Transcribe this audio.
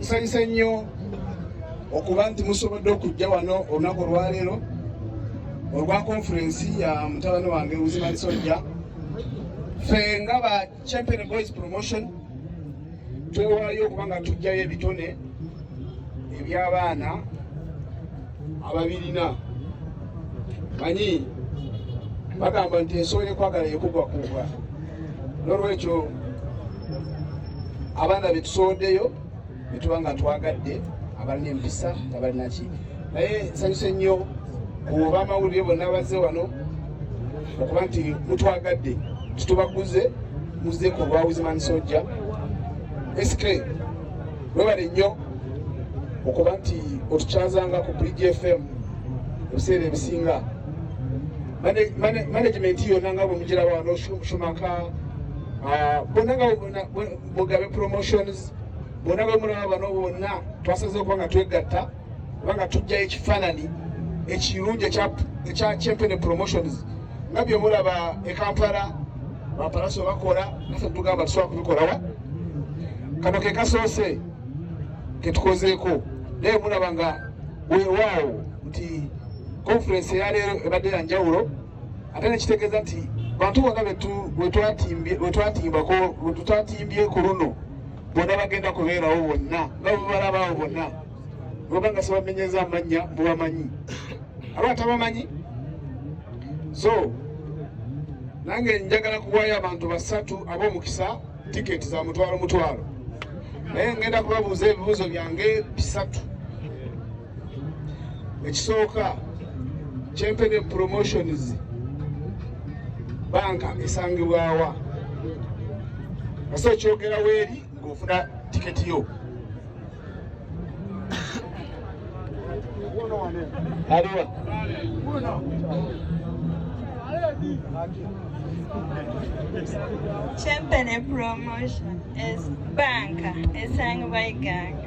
nsanyuse nnyo okuba nti musobodde okujja wano olunaku olwaleero olwa konferensi ya mutabani wange uzimani sojja fe nga ba champion boys promotion twewaayo okuba nga tujjayo ebitone eby'abaana ababirina manyi bagamba nti ensobola ekwagala yekugwa kugwa nolwekyo abaana betusooddeyo betuba nga twagadde abalina empisa nga balinaki naye nsanyuse nnyo kuoba amawulire bonna bazze wano okuba nti mutwagadde tutubaguze muzze ku lwawuzimani sojja sk webale nnyo okuba nti otukyazanga ku pgfm ebiseera ebisinga management yona nga bwemujira wano shumaka ah, bona nga mugabe promotions bona nga mulaba bano bonna twasaze okuba nga twegatta oba nga tujjayo ekifaanani ekirungi ekya champene promotions nga byemulaba ekampala bapalaso bakola nafe tugamba tusobola kubikolawa kano kekasoose ketukozeeko naye mulaba nga wewaawo nti Konferensi eya leero ebadde ya njawulo ate nekitegeeza nti bantu bonna wetwatimbako wetutatimbye ku luno bonna bagenda kubeerawo bonna nga bwebalabaawo bonna oba nga sebamenyeza amannya mubamanyi aba atabamanyi so nange njagala kuwayo abantu basatu ab'omukisa tiketi za mutwalo mutwalo naye ngenda kubabuuza ebibuuzo byange bisatu ekisooka kyempene promotions banka esangibwawa ase okyogera weeri ngaofuna tiketi yo aliwa Champion promotion is banka esangibwa iganga